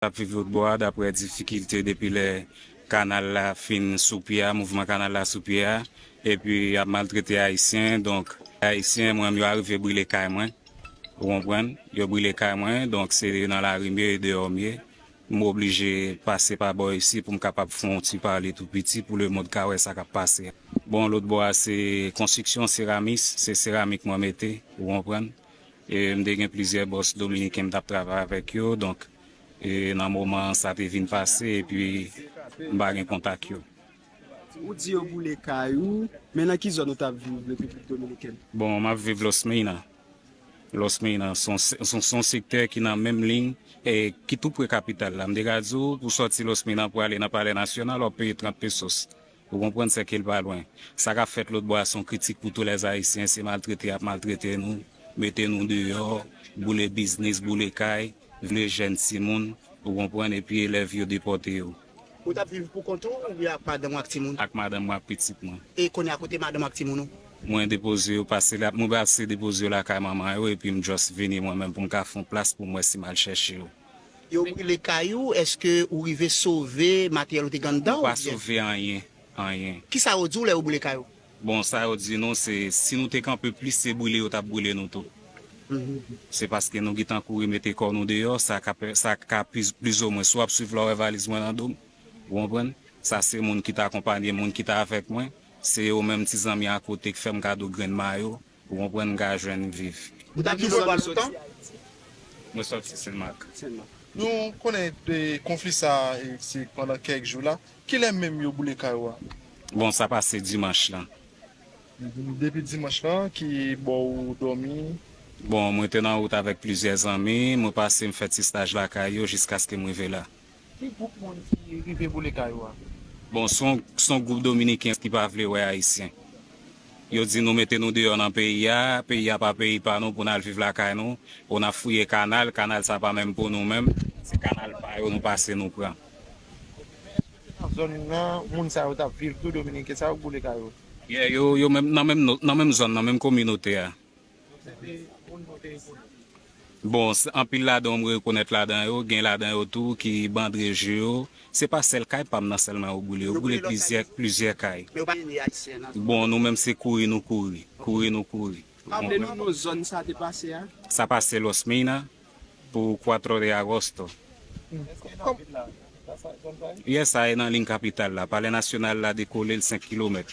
k ap viv lòtbò a daprè difikilte depi lè kanal la fin sou pye a, mouvman kanal la sou pye a, epi y ap maltrete Ayisyen. Donk, Ayisyen mwen yo arive brile kay mwen, ou konprann, yo brile kay mwen, donk se nan lari m ye, e deyò m ye. M oblije pase pa bò isi pou m kapab fè yon ti pale tou piti pou lemond ka wè sa k ap pase a. Bon, lòtbò a se konstriksyon, seramis, se seramik mwen mete, ou konprann. E m te gen plizyè bòs dominiken m t ap travay avèk yo, donk e nan moman an sa te vin pase epi m pa gen kontak yo. Ou di yo boule kay ou, men nan ki zòn ou t ap viv Repiblik Dominikèn? Bon, m ap viv Los Meyna. Los Meyna s on s on sektè ki nan menm liy e ki tou pre kapital la. M te ka di w pou w sòti Los Meyna pou w ale nan Palè Nasyonal w ap peye 30 pesos. Ou konprann sè kel pa lwen. Sa kap fèt lotbò a son kritik pou tou lè ayisyen se maltrete yap maltrete nou, mete nou deyò, boule biznis, boule kay, vle jèn timoun ou konprann epi elèv yo depòte yo. Ou tap viv pou kont ou oubyen ak madanm ou ak timoun? Ak madanm mwen ak pitit mwen. E kounye a kote madanm ou ak timoun ou? Mwen depoze yo pase la, mwen pase depoze yo lakay manman yo epi m just vini mwen menm pou m ka fon plas pou m wè si m al chèche yo. Yo brile kay ou eske ou rive sove materyèl ou te gen anndan ou byen? Nou pa sove anyen, anyen. Kisa yo di w lè yo brile kay ou? Bon sa yo di nou se si nou te kanpe plis se brile yo tap brile nou tou. Se paske nou gitan kouri mete kò nou deyò sa ka plizomwen si w ap swiv la w wè valiz mwen nan do m ou konprann sa se moun ki ta akonpanye m moun ki ta avèk mwen se yo menm ti zanmi akote k fè m kado grenn mayo Ou konprann m ka jwenn viv. Ou tap ki zòn ou soti ayiti? Mwen soti senmak. Nou konnen konfli sa se pandan kèk jou la. Kilè menm yo boule kay ou a? Bon sa pase dimanch lan. Depi dimanch lan ki bò ou dòmi? Bon mwen te nan wout avèk plizyè zanmi, mwen pase m fè ti staj lakay yo jiskaske m rive la. Ki group moun ki rive boule kay ou a? Bon son group dominiken ki pa vle wè ayisyen. Yo di nou mete nou deyò nan peyi a, peyi a pa peyi pa nou pou nal viv lakay nou, oh nap fouye kanal, kanal sa pa menm pou nou menm, se kanal pa yo nou pase nou pran. Ok men eske se nan zòn nan moun sa yo tap viv tou dominiken sa yo k boule kay yo? Yeah yo nan menm zòn nan menm kominote a. Bon, anpil ladan yo m rekonèt ladan yo, gen ladan yo tou ki bandreje yo. Se pa sèl kay pa m nan sèlman yo boule, yo boule plizyè kay. Bon, nou menm se kouri nou kouri, kouri nou kouri. Raple nou non zòn sa te pase a? Sa pase Los Mina pou Cuatro de Agosto. Yes, sa e nan liy kapital la. Palè nasyonal la dekole l 5 kilomèt.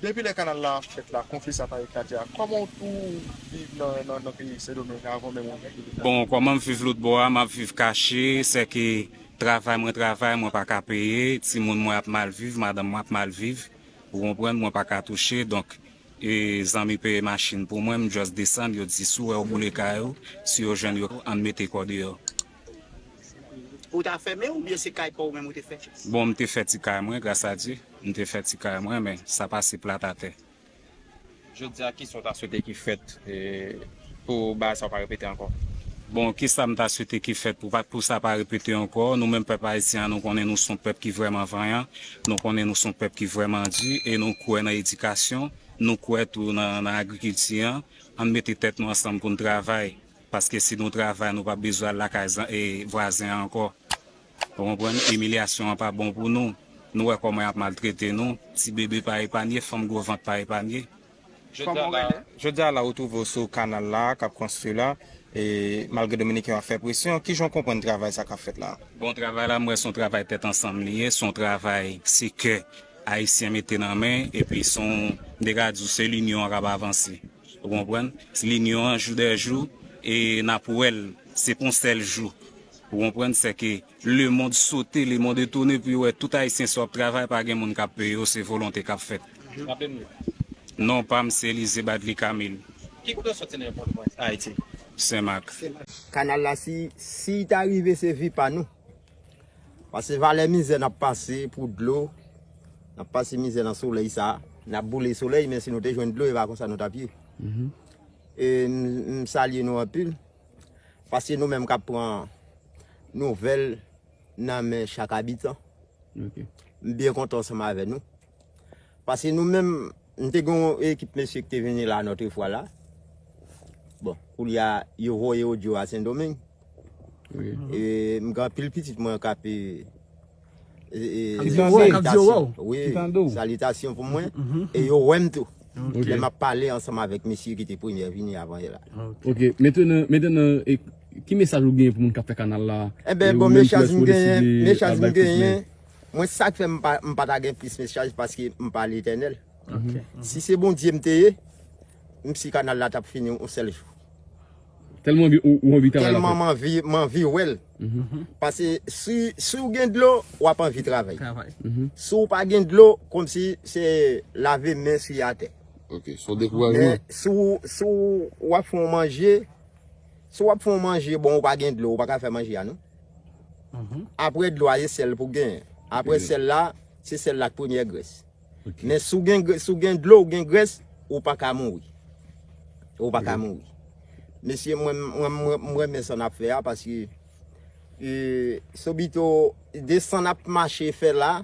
Depi lè kanal la ap fèt la konfli sa pa eklate a kòman w tou viv nan peyi sendomeng avan menm ou vin la. Bon kòman m viv lotbò a map viv kache sèke travay mwen travay mwen pa ka peye timoun mwen ap mal viv madanm mwen ap mal viv ou konprann mwen pa ka touche donk zanmi peye machin pou mwen m just desann yo di si w wè yo boule kay ou si yo jwenn yo ann mete kò deyò. Ou ta fèmen ou byen se kay paw menm ou te fè? Bon m te fè ti kay mwen gras a Dye, m te fè ti kay mwen men sa pa se plat a tè. Jodia kisa w ta swete ki fèt pou bagay sa yo pa repete ankò? Bon kisa m ta swete ki fèt pou pou sa pa repete ankò, nou menm pèp ayisyen an nou konnen nou son pèp ki vrèman vanyan, nou konnen nou son pèp ki vrèman di e nou kwè nan edikasyon, nou kwè tou nan agrikilti an, ann mete tèt nou ansanm pou n travay. paske si nou travay nou pap bezwen al lakay vwazen an ankò ou konprann imilyasyon an pa bon pou nou nou wè kòman yap maltrete nou ti bebe pa epanye fanm gwo vant pa epanye. Jodi a la ou twouve w sou kanal la a kap konstwi la e malgre dominiken yo ap fè presyon kijan w konprann travay sa kap fèt la a? Bon travay la m wè son travay tèt ansanm li ye son travay se kè ayisyen mete nan men epi son m te ka di w sèl inyon an kap avanse. Ou konprann? Linyon an jou dè jou e n ap wè l se pou yon sèl jou. Ou konprann? Sèke lemond sote, lemond etone pou yo wè tout Ayisyen sa yo ap travay pa gen moun k ap peye yo, se volonte k ap fèt. Raple nou non ou? Non pa m se Elize Badly Camille. Ki kote w soti nan Pòtoprens, Ayiti? Senmak. Kanal la si si ta rive se vi pa nou. Pase valè mizè nap pase pou dlo, nap pase mizè nan solèy sa, nap boule solèy men si nou te jwenn dlo e pa konsa nou tap ye. E m salye nou anpil paske nou menm kap pran nouvèl nan men chak abitan. M byen kontan ansanm avè nou. Pase nou menm, nou te gen yon ekip mesye ki te vini la notre fwa la. Bon, koulye a, yo voye odyo a Sendomeng. E m gen anpil pitit mwen k ape salitasyon pou mwen. E yo wè m tou. Lè m ap pale ansanm avèk mesye ki te premye vini avan yo la. Ok, metenan, ki mesaj ou genyen pou moun k ap fè kanal la? Enben bon mesaj m genyen, mesaj m genyen. Mwen sak fè m pata gen plis mesaj paske m pa letènèl. Si se Bondye m te ye, m si kanal la tap fini yon sèl jou. Tèlman ou anvi travay la fèt. Tèlman m anvi wèl. Pase si ou gen dlo, wap anvi travay. Si ou pa gen dlo, kòmsi se lave men sou atè. Ok, son dekourajman. Men si ou wap fè yon manje, si wap fè yon manje bon ou pa gen dlo, ou paka fè manje a non. Apre dlo a e sèl pou gen. Apre sèl la, se sèl la ak premyè grès. Men si w gen dlo ou gen grès, ou pa ka mouri. Ou pa ka mouri. Mesye mwen renmen sa n ap fè a paske sobito de sa n ap mache fè la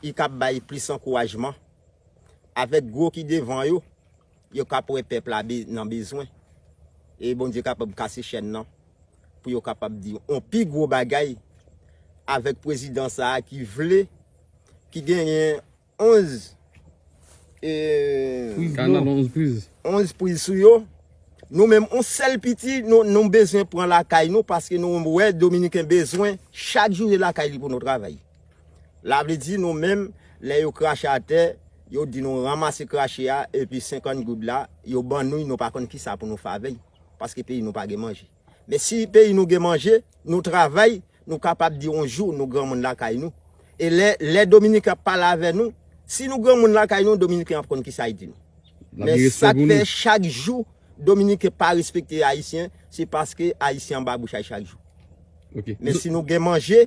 i ka bay plis ankourajman avèk gwo ki devan yo Yo kap wè pèp la nan bezwen e Bondye kapab kase chèn nan pou yo kapab di yon pi gwo bagay avèk pwezidan sa a ki vle, ki genyen 11 priz sou yo, nou menm yon sèl piti nou bezwen pran lakay nou paske nou wè dominiken bezwen chak jou lakay li pou nou travay. La vle di nou menm lè yo krache atè yo di nou ranmase krache a epi 50 goud la yo ban noui nou pa konn kisa pou nou fè avèy paske peyi nou pa gen manje men si peyi nou gen manje nou travay nou kapab di yon jou nou granmoun lakay nou e lè lè dominiken ap pale avè nou si nou granmoun lakay nou dominiken ap konn kisa y di nou men sak fè chak jou dominiken pa respekte ayisyen se paske ayisyen anba bouch a y chak jou men si nou gen manje.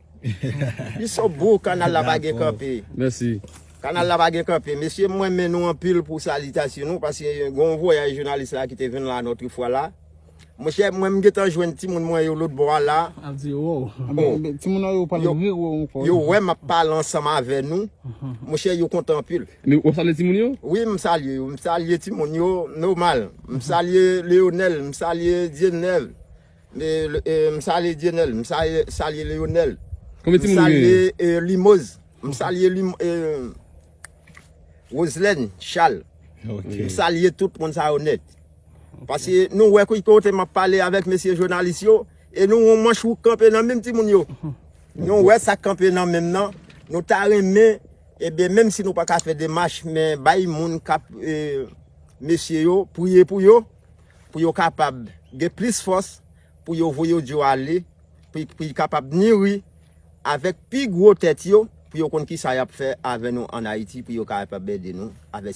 Li so bro kanal la pa gen kanpe. Merci. Kanal la pa gen kanpe. Mesye mwen men nou anpil pou salitasyon nou paske gen yon vwayaj jounalis la ki te vin la notre fwa la. Mon chè mwen m gentan jwenn ti moun mwen yo lot bò a la. Ap di yo wow. Bon. Ti moun an yo pale ri yo ankò. Yo wè map pale ansanm avè nou. Mon chè yo kontan anpil. Ou ap salye ti moun yo? Wi m salye yo. M salye ti moun yo nomal. M salye Leonel. M salye Dieuneuf. M salye Dyenèl, m salye Leyonèl, m salye Limoz, m salye Wozlèn, Chal, m salye tout moun sa yo nèt. Pase nou wè ki kote m ap pale avèk mesye jounalis yo, e nou wè manch wouk kanpe nan menm timoun yo. Nou wè sa k kanpe nan menm nan, nou ta renmen, ebyen menm si nou pa ka fè demach, men bay moun k ap mesye yo, priye pou yo. pou yo kapab gen plis fòs pou yo voye odyo a ale, pou y kapab niri avèk pi gwo tèt yo, pou yo konn kisa y ap fè avè nou ann Ayiti, pou yo kapab ede nou avè.